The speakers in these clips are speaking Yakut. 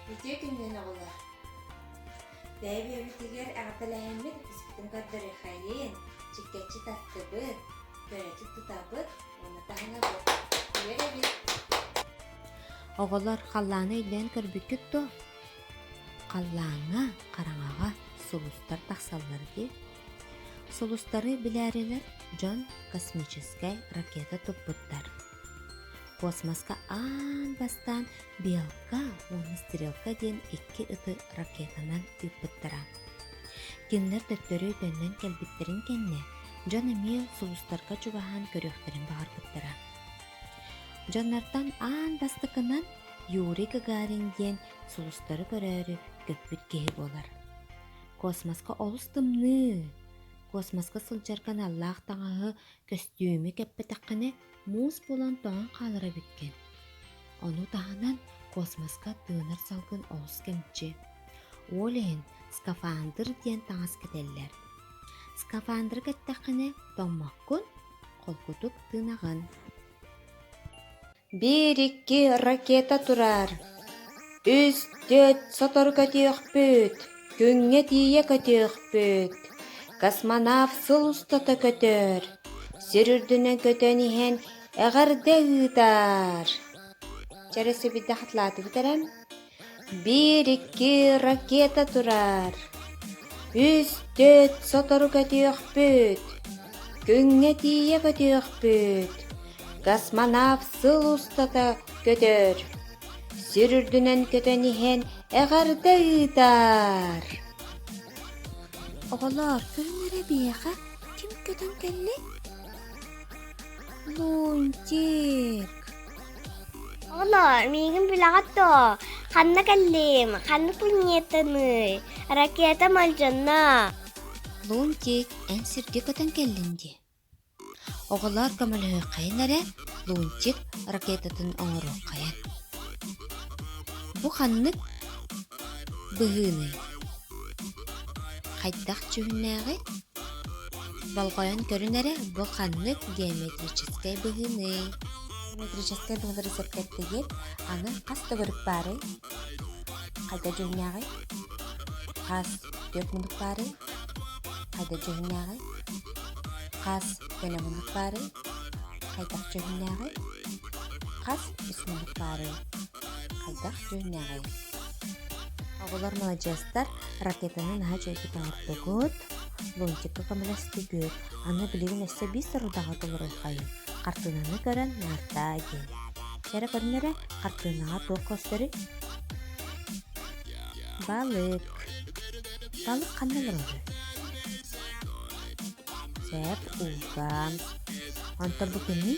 Үтүө күнүнэн оҕолор! Бэйэ-бэйэбитигэр эҕэрдэлэһэммит испитин көрдөрүөххэйин, чиккэччи таттыбыт, көрөччү тутабыт уонна таһынабыт. Күөр эбит. Оҕолор халлааны өйдөөн көрбүккүт дуо? Халлааҥҥа, хараҥаҕа сулустар тахсаллар дии. Сулустары билээрилэр дьон космическай ракета туппуттар. Космоска аан бастаан «Белка» уонна «Стрелка» диэн икки ыты ракетанан ыыппыттара. Кинилэр төттөрү төннөн кэлбиттэрин кэннэ, дьон эмиэ сулустарга чугаһаан көрүөхтэрин баҕарбыттара. Дьоннортон аан бастакынан Юрий Гагарин диэн сулустары көрөөрү көппүт киһи буолар. Космоска олус тымныы. Космоска сылдьарга аналлаах таҥаһы, көстүүмү кэппэтэххинэ, муус буолан тоҥон хаалар эбиккин. Ону таһынан космоска тыынар салгын олус кэмчи. Ол иһин скафандр диэн таҥас кэтэллэр. Скафандрга эттэххинэ, тоҥмоккун, холкутук тынаҕын. Биир-икки ракета турар, үс-төрт сотору көтүөхпүт, күҥҥэ тиийэ көтүөхпүт. Космонавт сыл устата көтөр, сир үрдүнэн көтөн иһэн эҕэрдэ ыытар. Чэ, эрэ сибирдэ хатылааты бүтэрэн, Биир-икки ракета турар, үс, төрүт сотору көтүөхпүт, күҥҥэ тиийэ көтүөхпүт, космонавт сыл устата көтөр, сир үрдүнэн көтөн иһэн эҕэрдэ ыытар. Оҕолоор, күн эрэ биһиэхэ ким көтөн кэллий? Лунтик. Оно, миигин билэҕит дуо? Ханна кэллим? Ханна планетаный? Ракета Мальджанна! Лунтик, эн сиргэ көтөн кэллин дии. Оҕолоор көмөлөһүөххэйин эрэ, Лунтик ракетатын оҥоруоххайан. Бу ханнык быһыыный? Хайдах дьүһүннээҕий? Болҕойон көрүн эрэ, бу ханнык геометрическай быһыыны? Геометрическай быһыылары сэргэттигит, аны хас төгүрүк баарый? Хайда дьүһүннээҕий? Хас түөрт мунук баарый? Хайда дьүһүннээҕий? Хас төлө мунук баарый? Хайдах дьүһүннээҕий? Хас үс мунук баарый? Хайдах дьүһүннээҕий? Оҕолор маладьыастар ракетаны наһаа үчүгэйдик оҥордугут, лунтикка көмөлөстүгүт. Аны билигин өссө биир сорудаҕа толоруоххайын. Хартыынаны көрөн наартаа диэн. Чэ эрэ көрүнэрэ, хартыынаҕа туох көстөрүй? Балык. Балык ханна олороро? Чэп, ууга. Онтон бу күнүй?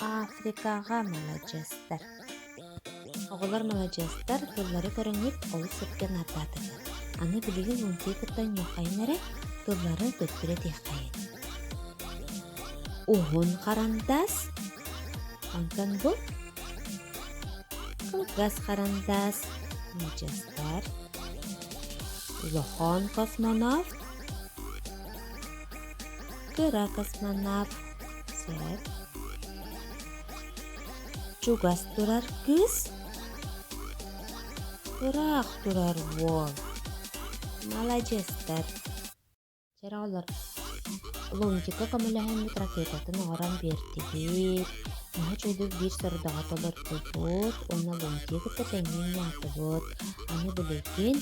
Африкаҕа маладьыастар Оҕолор маладьыастар тыллары көрүнньүк олус сөпкө наардаатылар. Аны билигин мультики кытта оннуоххайын эрэ, тыллары төттөрү этиэххэйин. Уһун харандаас Онтон бу кылгас харандаас маладьыастар Улахан космонавт кыра космонавт сэр чугас турар кыыс ыраах турар уол маладьыастар дьэ оҕолор лунтика көмөлөһүммүт ракетатын оҥорон биэртигит наһаа үчүгэй биир сорудаҕа толордубут уонна лунтига кытта тэҥҥэ аатыбыт аны билигин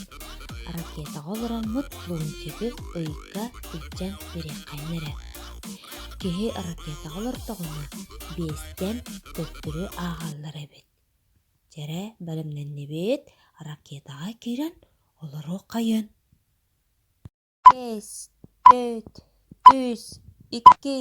ракетаҕа олороммут Лунтигы ыйга илдьэн үрэххэннэ эрэ. Киһи ракетаҕа олортоҕуна биэстэн төттөрү ааҕаллар эбит. Дьэрэ бэлэмнэннибит, ракетаҕа киирэн олоруоххайын. Бэс, төрт, үс, икки,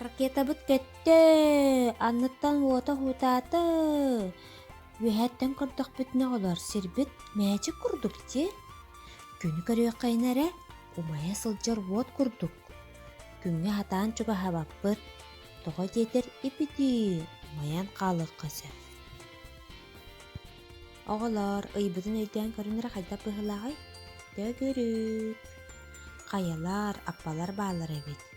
Ракетабыт көттө, анныттан уота уһутаата. Үөһэттэн көрдөхпүтүнэ олор сирбит мээчик курдук дии. Күнү көрүөххэйнэ эрэ, умайа сылдьар уот курдук. Күҥҥэ хатаан чугаһабаппыт, тоҕо диэтэр ипитии умайан хаалыахха сөп. Оҕолор, ыйбытын өйдөөн көрүн эрэ хайдах быһыылааҕый? Төгүрүк. Хайалар, аппалар бааллар эбит.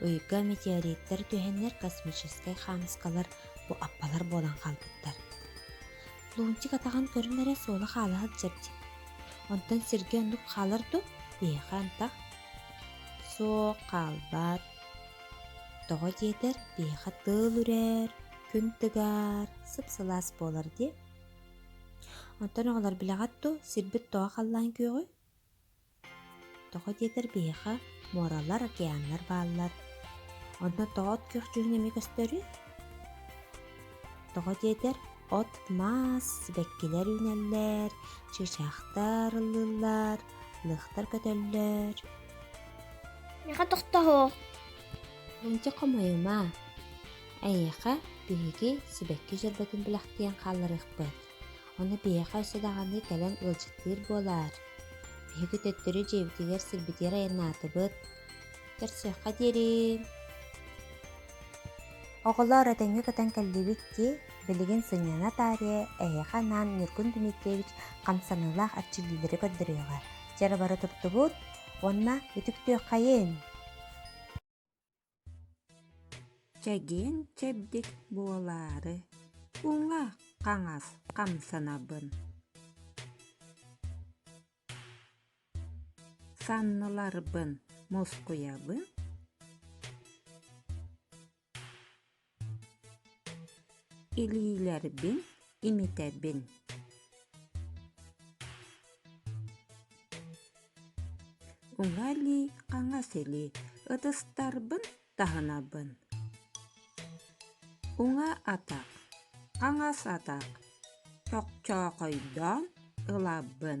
Ыйга метеориттар түһэннэр космическай хаамыскалар бу аппалар буолан хаалбыттар. Лунчик атаҕын көрөн эрэ суола хаала сылдьар дии. Онтон сиргэ оннук хаалар дуу? Биһиэхэ антах. Суох хаалбат. Тоҕо диэтэр, биһиэхэ тыыл үрэр, күн тыгар, сып-сылаас буолар дии. Онтон оҕолор билэҕит дуу, сирбит тоҕо халлаан күөҕүй? Тоҕо диэтэр биһиэхэ муоралар, океаннар бааллар. Онно тоот күхчүһүн эмиэ көстөрүй? Тоҕо диэтэр от-маас, сибэккилэр үүнэллэр, чыычаахтар ыллыыллар, лыахтар көтөллөр. Миэхэ тохтоһуох. Мэлдьи хомойума. Эйиэхэ биһиги сибэкки дьөрбөтүн бэлэхтиэн хаалларыахпыт. Ону биһиэхэ өссө даҕаны кэлэн ыалдьыттыыр буолаар. Биһиги төттөрү дьиэбитигэр сирбитигэр айаннаатыбыт. Көрсүөххэ диэри. Оҕолоор этэҥҥэ көтөн кэллибит дии. Билигин сынньана таарыйа эһиэхэ анаан Ньургун Дмитриевич хамсаныылаах эрчиллиилэри көрдөрүөҕэ. Дьэ бары туттубут уонна үтүктүөххэйин! Чэгиэн чэбдик буолаары уҥа хаҥас хамсанабын. Санныларбын мускуйабын. Илиилэрбин имитэбин уҥа илии хаҥас илии ытыстарбын таһынабын уҥа атах хаҥас атах чохчоохойдоон ылабын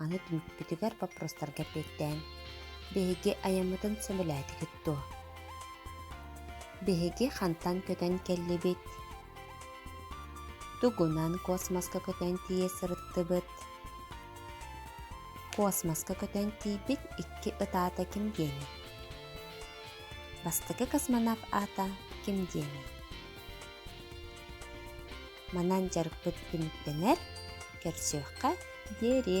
Аны түмүкпүтүгэр боппуруостарга эппиэттээн, биһиги айаммытын сөбүлээтигит дуо? Биһиги хантан көтөн кэллибит? Тугунан космоска көтөн тиийэ сырыттыбыт? Космоска көтөн тиийбит икки ытаата ким диэни? Бастакы космонавт аата ким диэни? манан дьарыкпыт түмүктэнэр кэлсиэххэ диэри